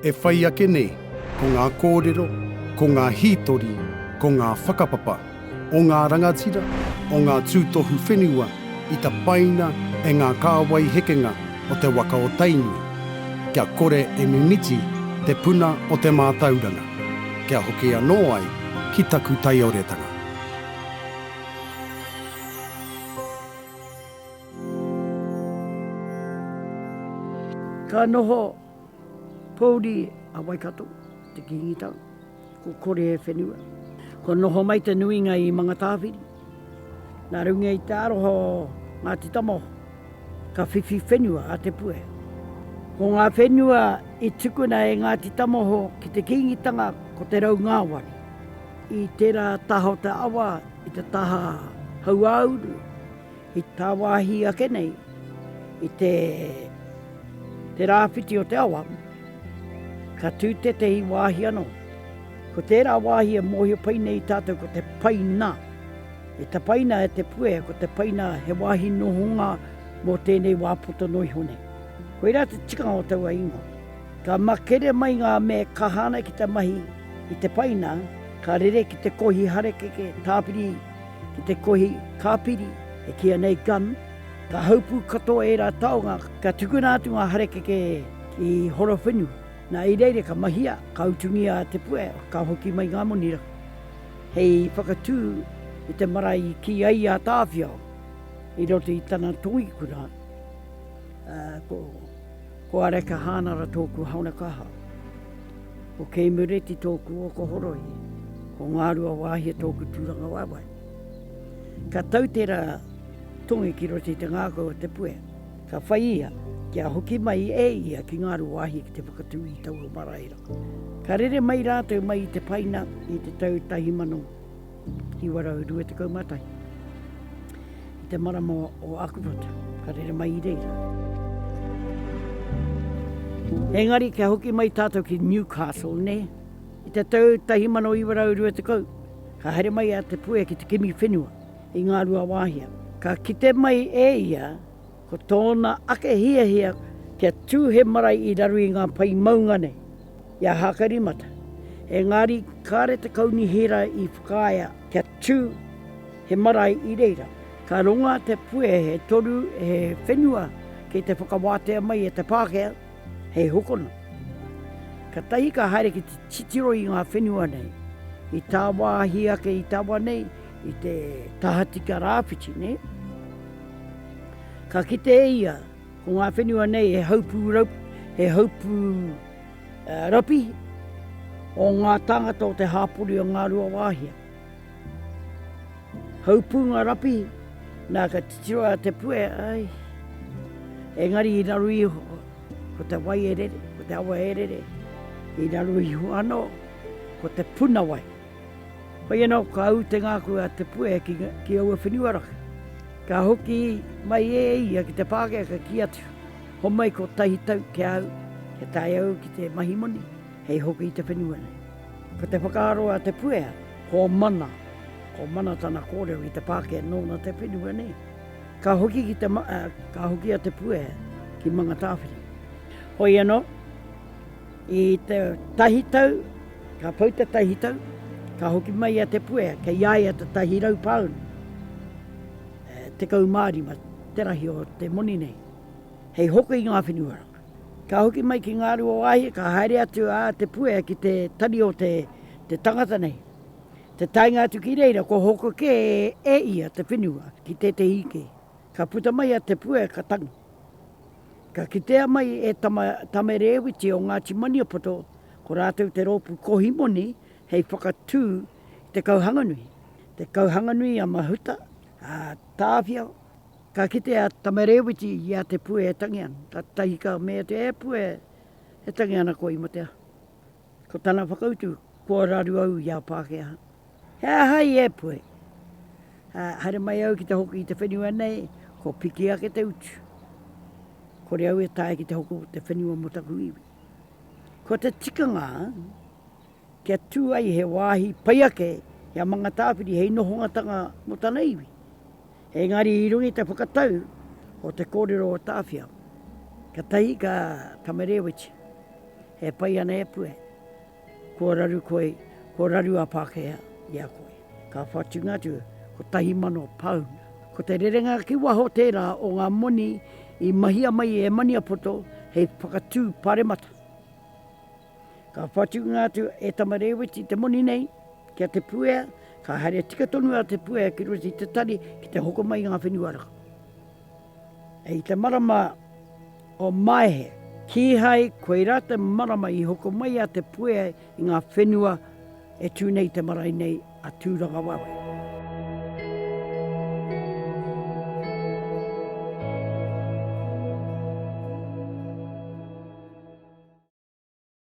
E whai ake nei, ko ngā kōrero, ko ngā hītori, ko ngā whakapapa o ngā rangatira, o ngā tūtohu whenua i tapaina e ngā kāwai hekenga o te waka o Tainui, kia kore e mimiti te puna o te mātauranga, kia hoki anō ai ki taku taioretanga. Ka noho pouri a Waikato i te Kīngitau, ko kore e whenua. Kua noho mai te nuinga i Mangatāwhiri. Nā runga i te aroha o Ngāti Tamaoho, ka whiwhi whenua a Te Puea. Ko ngā whenua i tukuna e Ngāti Tamaoho ki te Kīngitanga ko te raungāwari. I tērā taha o te awa i te taha hauāuru, I tāwāhi ake nei i te te rāwhiti o te awa, ka tū tētehi wāhi anō. Ko tērā wāhi e mōhio pai nei tātou ko te paina. E tapaina e te puea ko te paina he wāhi nohonga mō tēnei wā poto noa iho nei. Koirā te tikanga o taua ingoa. Ka makere mai ngā me kaha ana ki te mahi i te paina, ka rere ki te kohi harakeke, tāpiri, ki te kohi kāpiri e kīia nei gum, ka haupū katoa ērā taonga, ka tukuna atu ngā harakeke ki Horowhenu. Nā, i reira ka mahia, ka utungia te puea, ka hoki mai ngā moni rā hei whakatū i te marae i kī ai a Tāwhiao i roto i tana tongikura, ā, ko. Ko Areka Hānara tōku haona kaha. Ko Kei Mureti tōku oko horohi. Ko Ngārua Wāhia tōku tūranga waewae. Ka tau tērā tongi ki roto i te ngākau o te puea. Ka whai ia kia hoki mai e ia ki Ngārua Wāhia ki te whakatū i taua marae rā. Ka rere mai rātou mai i te paina i te tau tahi mano 1921. I te marama o Akuwhata, ka rere mai i reira. Engari, kia hoki mai tātou ki Newcastle, ne, i te tau 1920, ka haere mai a Te Puea ki te kimi whenua i Ngāruawāhia. Ka kite mai e ia Ko tōna ake hiahia kia tū he marae i raro i ngā pae maunga nei, i a Hākairimata. Engari, kāre te Kaunihera i whakaea kia tū he marae i reira. Ka runga te puehe toru he whenua ki te whakawātea mai e te Pākehā hei hokona. Katahi ka haere ki te titiro i ngā whenua nei, i tāwāhi ake i taua nei, i te tahatika rāwhiti, ne? Ka kite e ia, ko ngā whenua nei he haupu, raup, he haupu uh, rapi o ngā tāngata o te hāpori o ngā rua wāhia. Haupu ngā rapi, nā ka titiro a te pue, ai, engari i raru iho, ko te wai e rere, ko te awa e rere, i raru iho anō, ko te puna wai. Koia nō ka ū te ngākau a Te Puea ki aua whenua raka. Ka hoki mai e ia ki te Pākehā ka kī atu, Homai kotahi tau ki a au, kia tae au ki te mahi moni hei hoki i te whenua nei. Ko te whakaaro a Te Puea, ko mana, ko mana tana kōrero ki te Pākehā nōna te whenua nei. Ka hoki ki te, ka hoki a Te Puea ki Mangatāwhiri. Koia nō. I te tahi tau, ka pau te tahi tau, ka hoki mai a Te Puea, kei a ia te tahi rau pāunu, e, tekau mā rima te rahi o te moni nei, hei hoko i ngā whenua rā. Ka hoki mai ki Ngāruawāhia, ka haere atu a Te Puea ki te tari o te, te tangata nei. Te taenga atu ki reira, kua hoko kē e ia te whenua ki tētehi ike. Ka puta mai a Te Puea, ka tangi. Ka kitea mai e Tama Tamerewiti o Ngāti Maniapoto ko rātou te rōpū kohi moni hei whakatū i te kauhanganui. Te kauhanganui a Mahuta, a Tāwhia, ka kite a Tamerewiti i a Te Pue e tangi ana, ka tahi ka mea te e Pue e tangi ana koe i matea. Ko tana whakautu, Kua raru au i a Pākehā. He aha i Ēpuhi? Ā, haere mai au ki te hoki i te whenua nei, kua piki ake te utu. Kore au e taea ki te hoki o te whenua mō taku iwi. Ko te tikanga, kia tū ai he wāhi pai ake i a Mangatāwhiri hei nohongatanga mō tana iwi. Engari i runga i te whakatau o te kōrero o Tāwhia, ka tahi ka Tamerewiti, e pai ana e Pue, kua raru koe, kua raru a Pākehā i a koe. Ka whatunga atu, kotahi mano pāuna. Ko te rerenga ki waho tērā o ngā moni i mahia mai e Maniapoto hei whakatū paremata. Ka whatunga atu e Tama Rēweti te moni nei ki a Te Puea, ka haere tika tonu a Te Puea ki roto i te tari ki te hoko mai i ngā whenua raka. I te marama o Maehe, kīhai koirā te marama i hoko mai a Te Puea i ngā whenua e tū nei i te marae nei a Tūrangawaewae.